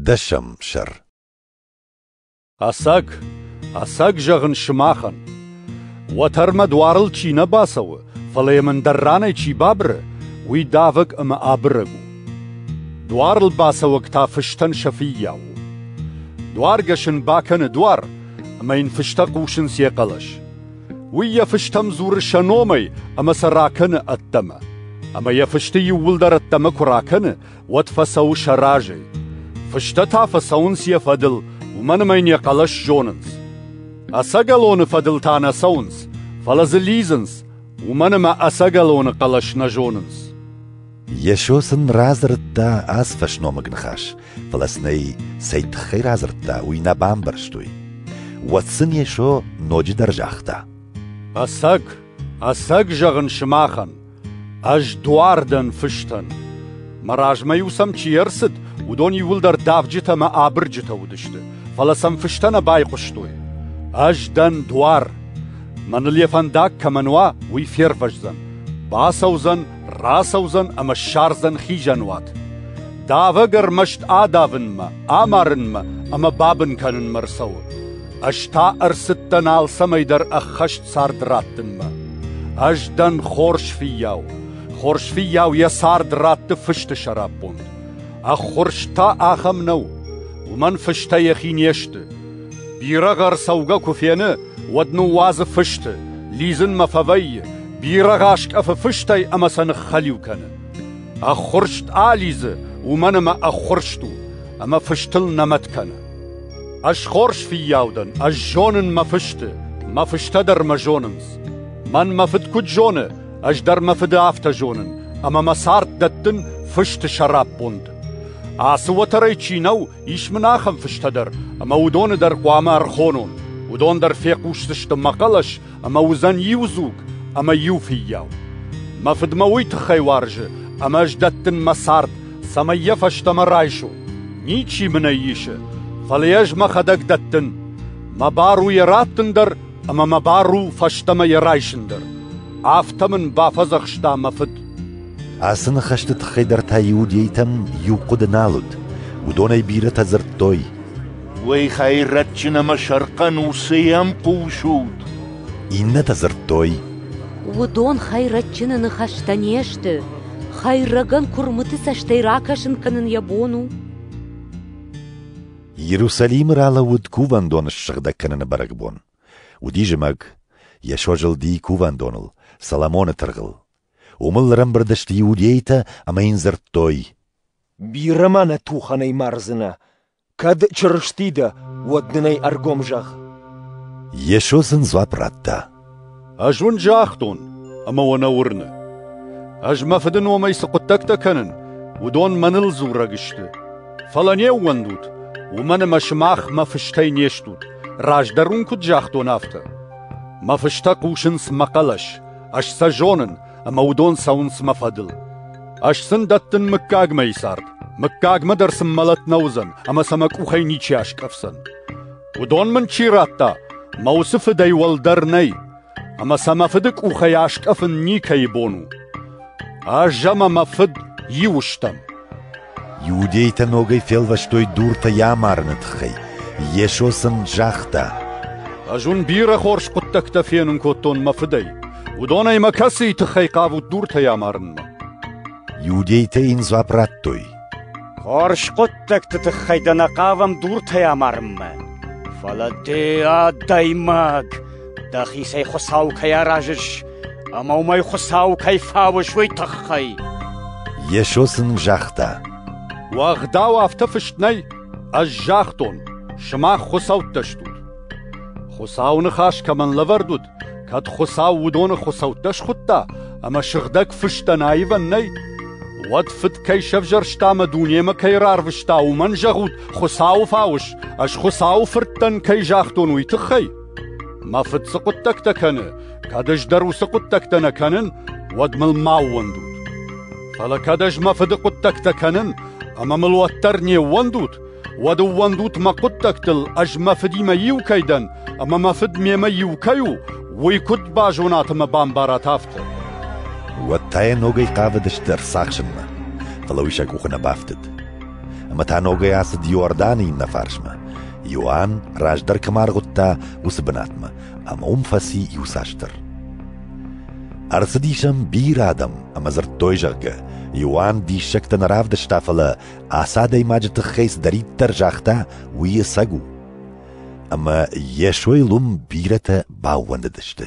Дӕсӕм сӕр Ӕцӕг, ӕцӕг зӕгъын сымахӕн. Уӕтӕрмӕ дуарыл чи нӕ бацӕуы, фӕлӕ йӕм ӕндӕр ранӕй чи бабыры, уый давӕг ӕмӕ абырӕг у. Дуарыл бацӕуӕг та фыстӕн сӕ фыййау у. Дуаргӕс ын бакӕны дуар, ӕмӕ йын фыстӕ хъусынц йӕ хъӕлӕс. Уый йӕ фыстӕм дзуры сӕ номӕй ӕмӕ сӕ ракӕны ӕддӕмӕ. Ӕмӕ йӕ фысты иууылдӕр ӕддӕмӕ куы ракӕны, уӕд фӕцӕуы сӕ разӕй. Фыстӕ та фӕцӕуынц йӕ фӕдыл, уымӕн ӕмӕ йын йӕ хъӕлӕс зонынц. Ӕцӕгӕлоны фӕдыл та нӕ цӕуынц, фӕлӕ дзы лидзынц, уымӕн ӕмӕ ӕцӕгӕлоны хъӕлӕс нӕ зонынц. Йесо сын радзырдта ацы фӕсномыг ныхас, фӕлӕ сын ӕй цӕй тыххӕй радзырдта, уый нӕ бамбӕрстой. Уӕд сын Йесо ноджыдӕр загъта: «Ӕцӕг, ӕцӕг зӕгъын сымахӕн, Ӕз дуар дӕн фыстӕн. Мӕ размӕ-иу сӕм чи ӕрцыд, уыдон иууылдӕр давджытӕ ӕмӕ абырджытӕ уыдысты, фӕлӕ сӕм фыстӕ нӕ байхъуыстой. Ӕз дӕн дуар. Мӕныл йӕ фӕндаг кӕмӕн уа, уый фервӕздзӕн, бацӕудзӕн, рацӕудзӕн ӕмӕ ссардзӕн хизӕнуат. Давӕг ӕрмӕст адавынмӕ, амарынмӕ ӕмӕ бабын кӕнынмӕ рцӕуы. Ӕз та ӕрцыдтӕн алцӕмӕйдӕр ӕххӕст цард раттынмӕ. Ӕз дӕн хорз фыййау. Хорз фыййау йӕ цард ратты фысты сӕраппонд. Ӕххуырст та ахӕм нӕу. Уымӕн фыстӕ йӕхи не сты. Бирӕгъ ӕрцӕугӕ куы фены, уӕд ныууадзы фысты, лидзынмӕ фӕвӕййы, бирӕгъ аскъӕфы фыстӕй ӕмӕ сӕ ныххӕлиу кӕны. Ӕххуырст алидзы, уымӕн ӕмӕ ӕххуырст у, ӕмӕ фыстыл нӕ мӕт кӕны. Ӕз хорз фиййау дӕн, ӕз зонын мӕ фысты, мӕ фыстӕ дӕр мӕ зонынц. Мӕн мӕ фыд куыд зоны, ӕз дӕр мӕ фыды афтӕ зонын, ӕмӕ мӕ цард дӕттын фысты сӕраппонд. Ацы уӕтӕрӕй чи нӕу, ис мын ахӕм фыстӕ дӕр, ӕмӕ уыдоны дӕр хъуамӕ ӕрхонон. Уыдон дӕр фехъусдзысты мӕ хъӕлӕс ӕмӕ уыдзӕн иу дзуг ӕмӕ иу фыййау. Мӕ фыд мӕ уый тыххӕй уарзы, ӕмӕ ӕз дӕттын мӕ цард, цӕмӕй йӕ фӕстӕмӕ райсо. Ничи мын ӕй исы, фӕлӕ ӕз мӕхӕдӕг дӕттын. Мӕ бар у йӕ раттын дӕр, ӕмӕ мӕ бар у фӕстӕмӕ йӕ райсын дӕр. Афтӕ мын бафӕдзӕхста мӕ фыд. Ацы ныхӕсты тыххӕй дӕр та иудейтӕм иу хъуыды нал уыд. Уыдонӕй бирӕтӕ дзырдтой: Уый хӕйрӕджджын ӕмӕ сӕрхъӕн уыцыйы ӕмхъусут? Иннӕтӕ дзырдтой. Уыдон хӕйрӕджджыны ныхӕстӕ не сты, хӕйрӕгӕн куырмыты цӕстӕй ракӕсын кӕнын йӕ бон у. Иерусалимы ралӕууыд кувӕндоны ссыгъдӕг кӕныны бӕрӕгбон. Уыди зымӕг, Йесо зылди кувӕндоныл, Соломоны тыргъыл. Уымыл ӕрӕмбырд сты иудейтӕ ӕмӕ йын дзырдтой. Бирӕ ма нӕ тухӕнӕй мардзынӕ, Кӕд Чырысти дӕ, уӕд дын ӕй ӕргом зӕгъ. Йесо сын дзуапп радта. Ӕз уын загътон, ӕмӕ уӕ нӕ уырны. Ӕз мӕ Фыды номӕй цы хъуыддӕгтӕ кӕнын, уыдон мӕныл дзурӕг сты. Фӕлӕ не ууӕндут, уымӕн ӕмӕ сымах мӕ фыстӕй не стут, раздӕр уын куыд загътон, афтӕ. Мӕ фыстӕ хъусынц мӕ хъӕлӕс, ӕз сӕ зонын ӕмӕ уыдон цӕуынц мӕ фӕдыл. Ӕз сын дӕттын мыггаг мӕйы цард, мыггагмӕ дӕр сын мӕлӕт нӕ уыдзӕн ӕмӕ сӕ мӕ къухӕй ничи аскъӕфдзӕн. Уыдон мын чи радта, мӕ уыцы фыдӕй уӕлдӕр нӕй, ӕмӕ сӕ мӕ фыды къухӕй аскъӕфын никӕйы бон у. Ӕз ӕмӕ мӕ фыд иу стӕм. Иудейтӕ ногӕй фелвӕстой дуртӕ йӕ амарыны тыххӕй. Йесо сын загъта: «Ӕз уын бирӕ хорз хъуыддӕгтӕ фенын кодтон мӕ фыдӕй. Уыдонӕй мӕ кӕцыйы тыххӕй хъавут дуртӕй амарынмӕ?» Иудейтӕ йын дзуапп радтой: «Хорз хъуыддӕгты тыххӕй дӕ нӕ хъавӕм дуртӕй амарынмӕ, фӕлӕ дӕ, адӕймаг, Дӕхицӕй Хуыцау кӕй аразыс ӕмӕ уымӕй Хуыцау кӕй фауыс, уый тыххӕй. Йесо сын загъта: «Уӕгъдау афтӕ фыст нӕй, ӕз загътон, сымах хуыцӕуттӕ стут. Хуыцауы ныхас кӕмӕн лӕвӕрд уыд, кӕд Хуыцау уыдоны хуыцӕуттӕ схуыдта ӕмӕ сыгъдӕг фыстӕн аивӕн нӕй, уӕд Фыд кӕй сӕвзӕрста ӕмӕ дунемӕ кӕй рарвыста, уымӕн зӕгъут, Хуыцауы фауыс, ӕз Хуыцауы Фырт дӕн, кӕй загътон, уый тыххӕй?» Мӕ фыд цы хъуыддӕгтӕ кӕны, кӕд ӕз дӕр уыцы хъуыддӕгтӕ нӕ кӕнын, уӕд мыл ма ууӕндут. Фӕлӕ кӕд ӕз мӕ фыды хъуыддӕгтӕ кӕнын ӕмӕ мыл уӕддӕр не ууӕндут, уӕд ӕууӕндут мӕ хъуыддӕгтыл, ӕз мӕ фыдимӕ иу кӕй дӕн ӕмӕ мӕ фыд мемӕ иу кӕй у, уый куыд базонат ӕмӕ бамбарат афтӕ. Уӕд та йӕ ногӕй хъавыдысты ӕрцахсынмӕ, фӕлӕ уый сӕ къухы нӕ бафтыд. Ӕмӕ та ногӕй ацыд Иорданы иннӕ фарсмӕ, Иоанн раздӕр кӕмӕ аргъуыдта, уыцы бынатмӕ, ӕмӕ уым фӕци иуцасдӕр. Ӕрцыдис ӕм бирӕ адӕм ӕмӕ дзырдтой, зӕгъгӕ, Иоанн диссӕгтӕ нӕ равдыста, фӕлӕ ацы адӕймаджы тыххӕй цыдӕриддӕр загъта, уый ӕцӕг у. Ӕмӕ Йесойыл уым бирӕтӕ баууӕндыдысты.